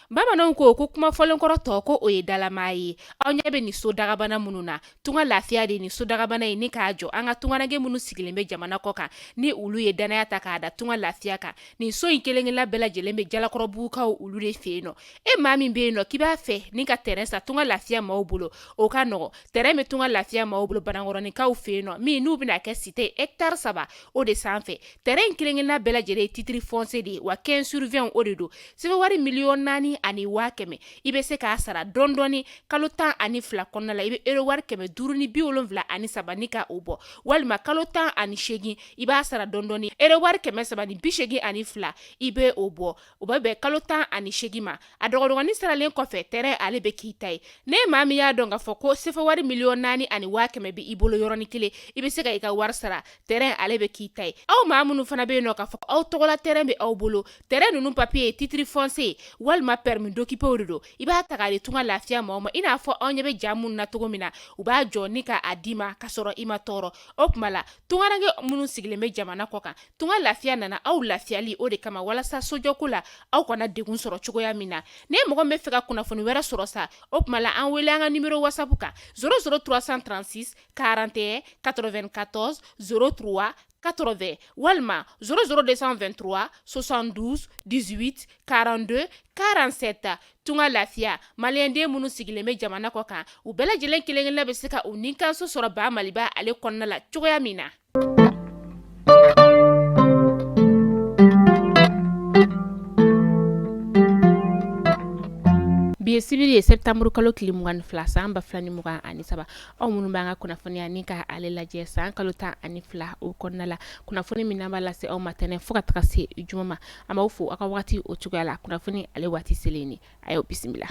bamananw ko ko kuma fɔlenkɔrɔ tɔ ko o ye dalama ye aw ɲɛ bɛ nin so dagabana minnu na tunga lafiya de ni so dagabana ye ni k'a jɔ an ka tungarankɛ minnu sigilen bɛ jamana kɔ kan ni olu ye dannaya ta k'a da tunga lafiya kan nin so in kelenkelenna bɛɛ lajɛlen bɛ jalakɔrɔbugukaw olu de fɛ yen nɔ e maa min bɛ yen nɔ k'i b'a fɛ ni ka tɛrɛn san tunga lafiya maaw bolo o ka nɔgɔ tɛrɛn bɛ tunga lafiya maaw bolo banankɔrɔninkaw fɛ yen nɔ min n'u bɛna kɛ site ɛkitari saba o de sanfɛ tɛrɛn in kelenkelenna bɛɛ lajɛlen ye titiri fɔnsiye de ye wa quinze sur vingt o de don sefa wari miliyɔn naani ani waa kɛmɛ i bɛ se k'a sara dɔndɔɔni kalo tan ani fila kɔnɔna la i bɛ ero wari kɛmɛ duuru ni bi wolonwula ani saba ni k' o bɔ walima kalo tan ani segin i b'a sara dɔndɔɔni ero wari kɛmɛ saba ni bi segin ani fila i bɛ o bɔ o bɛ bɛn kalo tan ani segin ma a dɔgɔdɔgɔnin saralen kɔfɛ tɛrɛn ale bɛ k'i ta ye ni maa min y'a dɔn k'a fɔ ko sefa wari miliyɔn naani ani waa kɛmɛ bɛ i bolo yɔrɔnin kelen i bɛ se ka i ka wari sara tɛrɛn ale bɛ k'i ta ye aw maa minnu fana bɛ yen nɔ k'a fɔ aw tɔgɔla tɛrɛn bɛ aw bolo tɛrɛn ninnu papiye ye titiri fɔnsiye walima pɛrimi dokipe de don i b'a ta k'a di tunga lafiya maaw ma i n'a fɔ aw ɲɛ bɛ ja minnu na cogo min na u b'a jɔ ni k'a d'i ma ka sɔrɔ i ma tɔɔrɔ o tuma la tunkarankɛ minnu sigilen bɛ jamana kɔ kan Tunga lafiya nana aw lafiyali o de kama walasa sojɔko la aw kana degun sɔrɔ cogoya min na ni mɔgɔ min bɛ fɛ ka kunnafoni wɛrɛ sɔrɔ sa o tuma la an wele an ka nimɔrɔ wasapu kan zéro zéro trois cent trente-six quarante et un quatre-vingt-quatorze zéro trois quatre-vingt walima zéro zéro deux cent vingt-trois soixante-douze dix-huit quarante-deux quarante-sept tunga lafiya maliyɛnden minnu sigilen bɛ jamana kɔ kan u bɛɛ lajɛlen kelenkelen bɛ se ka u ninkanso sɔrɔ ba maliba ale kɔnɔna la cogoya min na Bi ye sibiri ye sɛpitanburu kalo tile mugan ni fila san ba fila ni mugan ani saba aw minnu bɛ an ka kunnafoniya ni ka ale lajɛ san kalo tan ani fila o kɔnɔna la kunnafoni min b'a lase aw ma tɛnɛn fo ka taga se juma ma an b'aw fo aw ka waati o cogoya la kunnafoni ale waati selen a y'o bisimila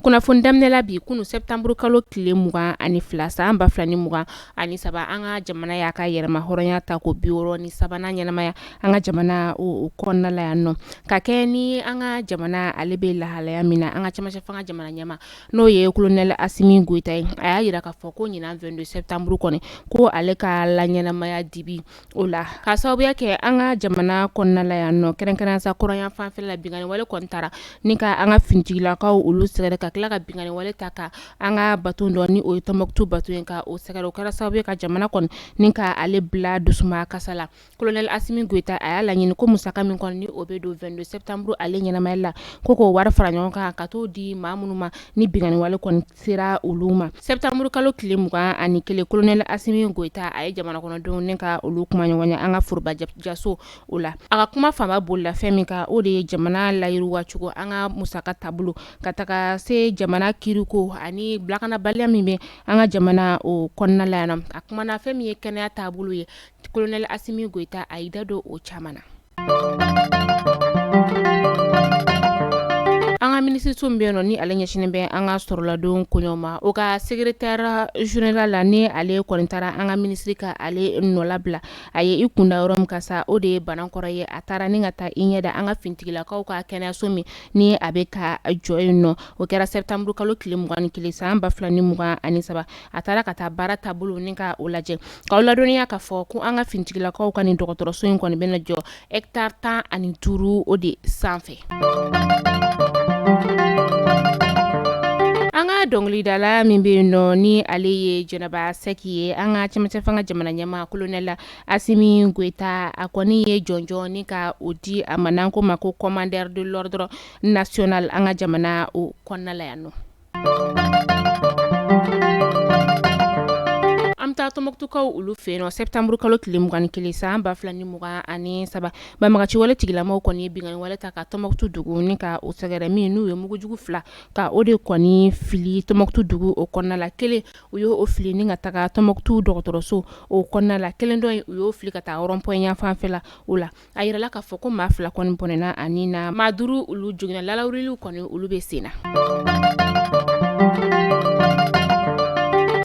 kunnafoni daminɛla bi kunun sɛpitanburu kalo tile mugan ani fila san ba fila ni mugan ani saba an ka jamana y'a ka yɛrɛmahɔrɔnya ta ko bi wɔɔrɔ ni sabanan ɲɛnamaya an ka jamana kɔnɔna la yan nɔ ka kɛ ni an ka jamana ale bɛ lahalaya min na an ka cɛmancɛ fanga jamana ɲɛmaa n'o ye kolonɛli Asimi Goyita ye a y'a jira k'a fɔ ko ɲinan vingt-deux sɛpitanburu kɔni ko ale ka laɲɛnamaya dibi o la ka sababuya kɛ an ka jamana kɔnɔnala yan nɔ kɛrɛnkɛrɛn sa kɔrɔnyanfan fɛla la binkanwale kɔni taara ni ka an ka finitigilakaw olu sɛgɛrɛ ka tila ka binkanwale taa ka an ka bato dɔ ni o ye Tɔnbukutu bato ye ka o sɛgɛrɛ o kɛra sababu ye ka jamana kɔni ni k'ale bila dusukasi la Kolonɛli Asimi Goyita a y'a laɲini ko musaka min kɔni ni o bɛ don 22 septembre ale ɲɛnamaya la ko k'o wari fara ɲɔgɔn kan ka t'o di maa minnu ma ni binkanni wale kɔni sera olu ma septembre kalo tile 21 kolonɛli Asimi Goyita a ye jamanakɔnɔdenw ni ka olu kumaɲɔgɔnya an ka foroba jaso o la a ka kuma fanba bolila fɛn min kan o de ye jamana layiriwa cogo an ka musaka taabolo ka taga se jamana kiiriko ani lakanabaliya min bɛ an ka jamana o kɔnɔna la yan nɔ a kumana fɛn min ye kɛnɛya taabolo ye kolonɛli Asimi Goyita a y'i da don o caman na an ka minisiriso min bɛ yen nɔ ni ale ɲɛsinnen bɛ an ka sɔrɔladon koɲɛw ma o ka secrétaire général la ni ale kɔni taara an ka minisiri ka ale nɔ labila a ye i kunda yɔrɔ min kan sa o de ye Banankɔrɔ ye a taara ni ka taa i ɲɛ da an ka finitigilakaw ka kɛnɛyaso min ni a bɛ ka jɔ yen nɔ o kɛra sɛtanburukalo tile mugan ni kelen san ba fila ni mugan ani saba a taara ka taa baara taabolo ni ka o lajɛ k'aw ladɔnniya k'a fɔ ko an ka finitigilakaw ka nin dɔgɔtɔrɔso in kɔni bɛna jɔ hectare tan ani duuru o de sanfɛ an ka dɔnkilidala min bɛ yen nɔ ni ale ye Jɛnɛba Sɛki ye an ka cɛmancɛ fanga jamana ɲɛmaa kolonɛli Asimi Goyita a kɔni ye jɔnjɔn ni ka o di a ma n'an k'o ma ko commandeur de l'ordre national an ka jamana o kɔnɔna la yan nɔ An bɛ taa Tɔnbukutukaw olu fɛ yen nɔ sɛtanburukalo tile mugan ni kelen san ba fila ni mugan ani saba banbagaci wale tigilamaw kɔni ye binkanni wale ta ka Tɔnbukutu dugu ni ka o sɛgɛrɛ min n'u ye mugujugu fila ka o de kɔni fili Tɔnbukutu dugu o kɔnɔna la kelen u y' o fili ni ka taga Tɔnbukutu dɔgɔtɔrɔso o kɔnɔna la kelen dɔ u y'o fili ka taa rond-point yan fanfɛla o la a jirala k'a fɔ ko maa fila kɔni bɔnɛna a ni na maa duuru olu joginna larawuliliw kɔni olu bɛ sen na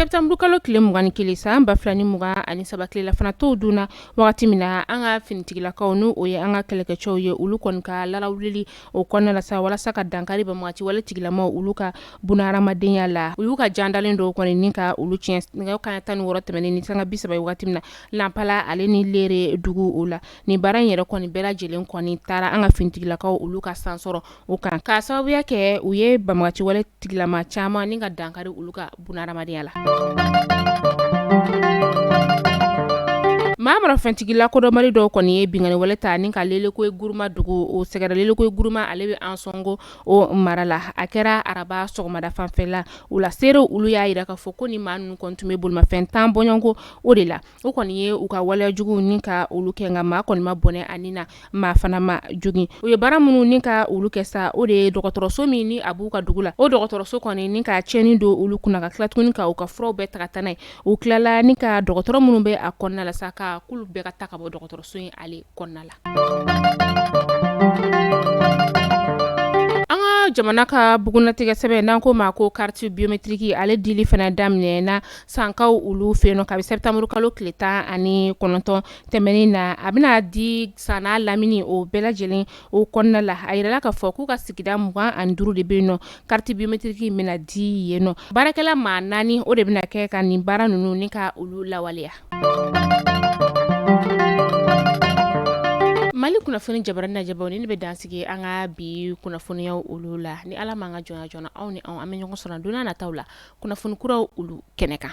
sɛtanburukalo tile mugan ni kelen san ba fila ni mugan ani saba tilelafana to dunna wagati min na an ka finitigilakaw n' o ye an ka kɛlɛkɛcɛw ye olu kɔni ka larawulili o kɔnɔna la sa walasa ka dankari banbagaci wale tigilamaw olu ka bunahadamadenya la u y'u ka jan dalen dɔw kɔni ni ka olu tiɲɛ nɛgɛ kanɲɛ tan ni wɔɔrɔ tɛmɛnen ni sanga bisaba ye wagati min na Nanpala ale ni Lere dugu o la ni baara in yɛrɛ kɔni bɛɛ lajɛlen kɔni taara an ka finitigilakaw olu ka sansɔrɔ o kan ka sababuya kɛ u ye banbagaci wale tigilama caman ni ka dankari olu ka bunahadamadenya la maramafɛntigila kodɔnbali dɔw kɔni ye binkanni wale ta ni ka Lelekoyi Guruma dugu o sɛgɛrɛ Lelekoyi Guruma ale bɛ Ansɔngo o mara la a kɛra araba sɔgɔmada fanfɛla o la seere olu y'a jira k'a fɔ ko ni maa ninnu kɔni tun bɛ bolimafɛn tan bɔɲɔgɔnko o de la o kɔni ye u ka waleya juguw ni ka olu kɛ nka maa kɔni ma bɔnɛ a ni na maa fana ma jogin u ye baara minnu ni ka olu kɛ sa o de ye dɔgɔtɔrɔso min ni a b'u ka dugu la o dɔgɔtɔrɔso kɔni ni ka tiɲɛni don olu kunna ka tila tuguni ka u ka furaw bɛɛ ta ka taa n'a ye u tilala ni ka dɔgɔtɔrɔ minnu bɛ a kɔnɔna la sa ka k'olu bɛɛ ka taa ka bɔ dɔgɔtɔrɔso in ale kɔnɔna la jamana ka bugunnatigɛ sɛbɛn n'an k'o ma ko kariti biometiriki ale dili fana daminɛna sankaw olu fɛ yen nɔ kabi sɛtanburu kalo tile tan ani kɔnɔntɔn tɛmɛnen na a bɛna di san n'a lamini o bɛɛ lajɛlen o kɔnɔna la a yirala k'a fɔ k'u ka sigida mugan ani duuru de bɛ yen nɔ kariti biometiriki bɛna di yen nɔ baarakɛla maa naani o de bɛna kɛ ka nin baara ninnu ni ka olu lawaleya Mali kunnafoni jabaranin lajɛbaw ne bɛ dansigi an ka bi kunnafoniyaw olu la ni ala ma an ka joona joona aw ni an bɛ ɲɔgɔn sɔrɔ don nataw la kunnafoni kuraw olu kɛnɛ kan